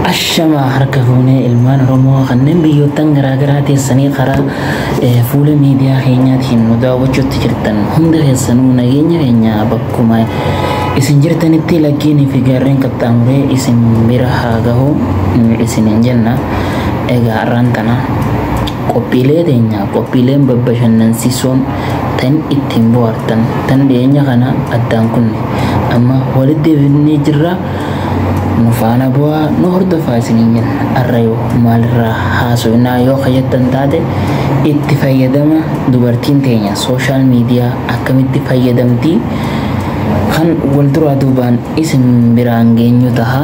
Ashamaa harka fuunee ilmaan Oromoo kanneen biyyoottan garaagaraa teessanii karaa eh, fuula miidiyaa keenyaatiin nu daawwachuutti jirtan hunda keessanuu nageenya keenya bakkuma isin jirtanitti laggeenii fi gaarreen qaxxaamuree isin bira haa gahu mm, isiniin jenna egaa har'aan tana Qophiilee teenya qophiileen babbashannansiisoon tan ittiin bohaartan tan dhiyeenya kana addaan kunne amma walitti deebifnee jirra nu faana bu'aa nu hordofaa isiniin jenna arra yoo maalirraa haasofnaa yoo kayyattan taate itti fayyadama dubartiin teenya sooshaal miidiyaa akkamitti fayyadamtii kan wal duraa duubaan isin biraan geenyu taha.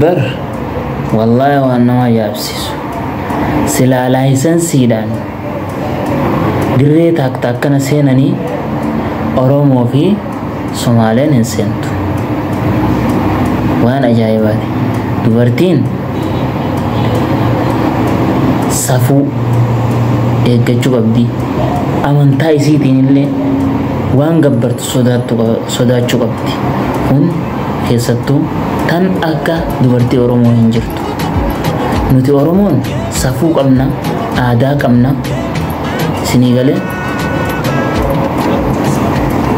bar wallaahi waan nama yaabsiisu silaa laayisansiidhaan dirree taakta akkana seenanii oromoo fi somaaleen hin seentu waan ajaa'ibaati dubartiin safuu eeggachuu qabdi amantaa isiitiin illee waan gabbartu sodaattu qaba- sodaachuu qabdi. Kun keessattuu tan akka dubartii Oromoo hin jirtu. Nuti Oromoon safuu qabna, aadaa qabna, sinii galee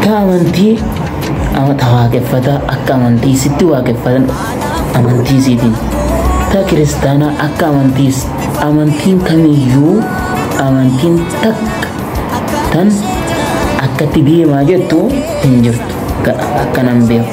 ta amantii ama- ta waaqeffataa akka amantii sitti waaqeffatan amantii siitiin ta kiristaanaa akka amantiis amantiin kamiyyuu amantiin takka tan akkatti deemaa jettu hin jirtu akka nan beeku.